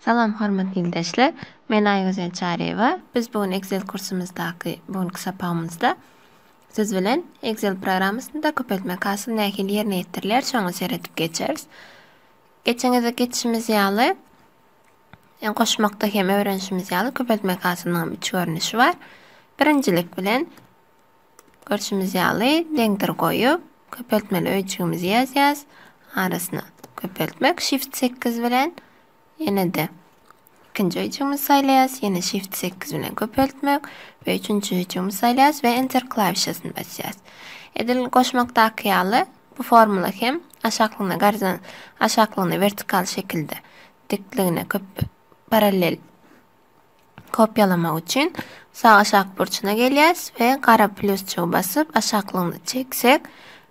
Salam hormatly ildeşler. Men Aýgözel Çaryýewa. Biz bu gün Excel kursumyzdaky bu günki sapagymyzda siz bilen Excel programmasynda köpeltmek hasyl nähili ýerine ýetirilýär, şoňa seredip geçeris. Geçen gezek geçişimiz ýaly, ýa goşmakda hem öwrenişimiz ýaly köpeltmek hasylynyň hem üç görnüşi bar. Birinjilik bilen görşümiz ýaly deňdir goýup, köpeltmeli öýjügimizi ýazýas. Arasyna köpeltmek shift sekiz bilen ýene-de Ikinji höjügimizi saýlaýas, ýene Shift sekiz bilen köpeltmek we üçünji höjügimizi saýlaýas we Enter klawişasyny basýas. Edil goşmakdaky ýaly bu formula hem aşaklygyna garzan aşaklygyna wertikal şekilde dikligine köp parallel kopýalamak üçin sag aşak burçuna gelýäs we gara plusjygy basyp aşaklygyna çeksek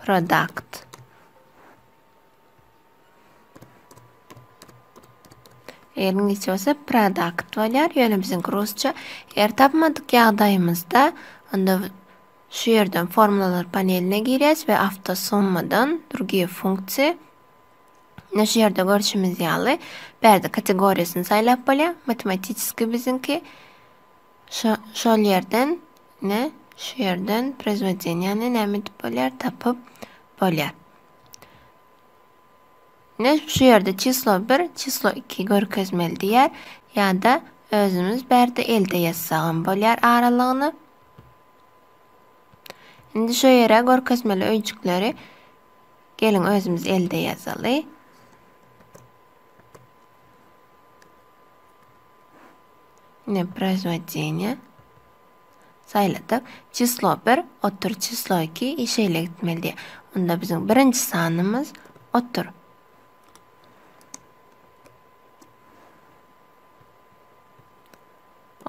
product Eňňeçe bolsa product bolýar. Ýöne biziň rusça eger tapmadyk ýagdaýymyzda onda şu ýerden formulalar paneline girýäs we awtosummadan drugie funksiýa Ine şu ýerde görşümiz ýaly, bärde kategoriýasyny saýlap bolýar. Matematiskiý biziňki Şo, şol ýerden, ne, şu ýerden prezwodeniýany näme edip bolýar, tapyp bolýar. Ne, şu ýerde çislo bir, çislo iki görkezmeli diýýär, ýa-da özümiz bärde elde ýazsagam bolýar aralygyny. Indi şo ýere görkezmeli öýjükleri geliň özümiz elde ýazaly. Ine, Proizwodeniýe saýladyk. Çislo bir, otur, çislo iki i şeýle gitmeli diýýär. Onda biziň birinji sanymyz otur.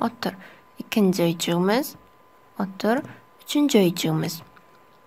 Otur. Ikinji öýjügimiz otur. Üçünji öýjügimiz.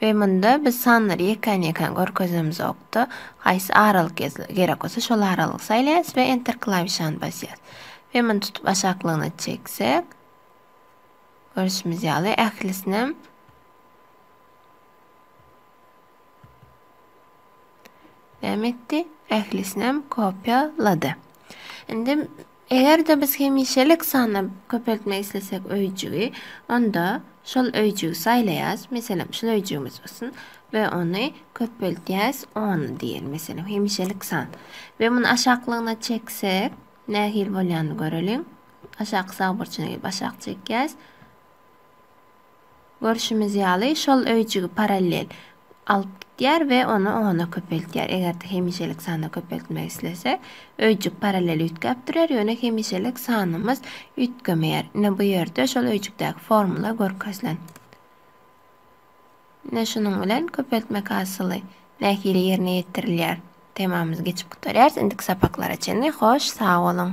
We munda biz sanlary ýekän-ýekän görkezemzok-da, haýsy aralyk gerek bolsa şol aralygy saýlaýas we Enter klawişany basýas. We muny tutup aşaklygyna çeksek, görşümiz ýaly ählisinem näme etdi? Ählisinem kopýalady. Indi Eger-de biz hemişelik sany köpeltmek islesek öýjügi, onda şol öýjügi saýlaýas, meselem, şul öýjügimiz bolsun we ony köpeltýäs, on diýeli, meselem, hemişelik san. We muny aşaklygyna çeksek, nähili bolýanyny göreliň. Aşaky sag burçuna gelip aşak çekýäs. Görşümiz ýaly, şol öýjügi parallel alyp gidýär we ony ona köpeltýär. Eger-de hemişelik sanda köpeltmek islesek, öýjük parallel üýtgäp durýar, ýöne hemişelik sanymyz üýtgemeýär. Ine, bu ýerde şol öýjükdäki formula görkezilen. Ine, şunuň bilen köpeltmek hasyly nähili ýerine ýetirilýär temamyzy geçip gutarýarys. Indiki sapaklara çenli hoş sag boluň!